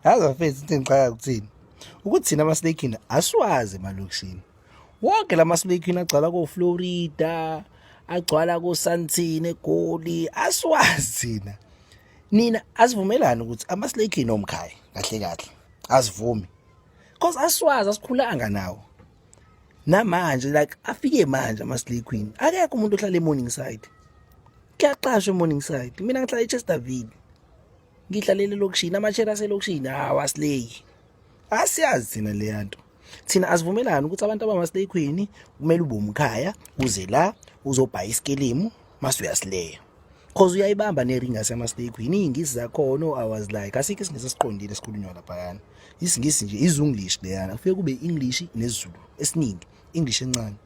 yazi bafethu into engiqala kuthini ukuthi thina amaslakini asiwazi emalokishini wonke la maslakini agcwala koflorida agcwala kosantini egoli asiwazi thina nina asivumelani ukuthi amaslakini omkhaya kahle kahle asivumi cause asiwazi asikhulanga nawo namanje like afike manje ama-slay queen akekho umuntu ohlala e-morning side kuyaqashwa e-morning side mina ngihlala e-chesterville ngidlalele elokishini amashare aselokishini hawu asileyi asiyazi thina leya nto thina asivumelani ukuthi abantu abamaslay queen kumele ube umkhaya uze la uzobhaya isikilimu mase uyasileya cause uyayibamba nering yasemaslay queen iy'ngisi zakhona o-hours like asikho isingisi esiqondile esikhulunywa laphayana isingisi nje izunglish leyana kufike kube i-english nesizulu esiningi English encane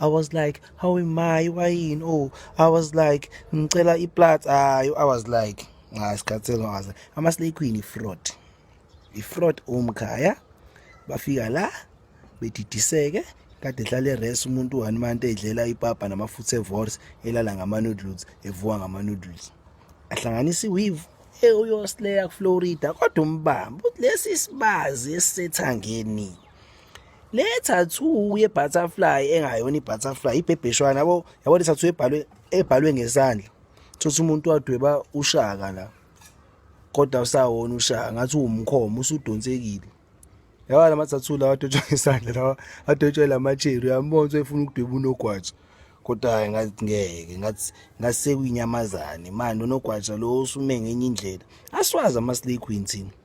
I was like how am I wayini oh I was like ngicela iplat ayo I was like ah sikhathele ngaze ama slay queen ifraud ifraud umkhaya bafika la bedidiseke kade ehlale res umuntu one month edlela ipapa namafutha evorse elala ngama noodles evuka ngama noodles ahlanganisa iweave eyoslea kuflorida kodwa umbamba ukuthi lesi sibazi esisethangeni le tattoo ye butterfly engayona ibutterfly ibhebheshwana yabo yabo le tattoo ebhalwe ebhalwe ngesandla thothi umuntu wadweba ushaka la kodwa usawona ushaka ngathi uwumkhomo usudonsekile yaba lama tattoo lawa adwetshwa ngesandla lawa adwetshwa lamacheru yambona ukuthi efuna ukudweba unogwatsha kodwa hayi ngathi ngeke ngathi ngasekwinyamazane manje unogwatsha lo usume ngenye indlela asiwazi ama-slay queen thina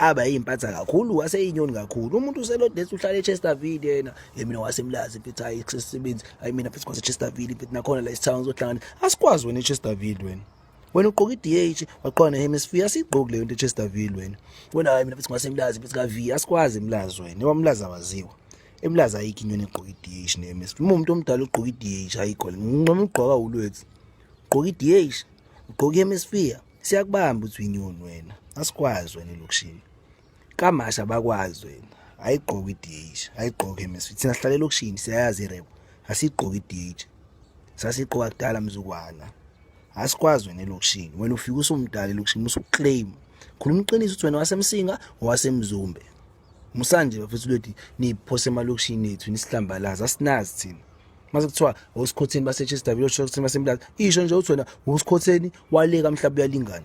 aba yimpatha kakhulu waseyinyoni kakhulu umuntu uselodesi uhlala echesterville yena yemina wasemlazi mfethu hayi kusesebenzi hayi mina mfethu kwasechesterville mfethu nakhona la isithawu ngizohlangana asikwazi wena echesterville wena wena ugqoka i-dh waqhona ne-hemisphere asiyigqoki leyo nto echesterville wena wena hayi mina mfethu ngasemlazi mfethu ka-v asikwazi emlazi wena ewamlazi awaziwa emlazi ayikho inyoni egqoka i-dh ne-hemisphere uma umuntu omdala ugqoka i-dh ayikho le nqoma ugqoka ulwethu ugqoka i-dh ugqoka i-hemisphere Siyakubamba uthi uyinyoni wena. Asikwazi wena elokishini. Kamasha abakwazi wena. Ayigqoke iDH, ayigqoke MSV. Thina sihlale elokishini siyayazi irebo. Asigqoke iDH. Sasigqoka kudala mzukwana. Asikwazi wena elokishini. Wena ufika usumdala elokishini usuclaim. Khuluma iqiniso ukuthi wena wasemsinga owasemzumbe. Musanje bafethu lwethi niphose emalokishini ethu nisihlambalaza asinazi thina. mase kuthiwa usikhotheni baseChester village usikhotheni basemlazi isho nje uthi wena usikhotheni waleka mhlawumbe uyalingana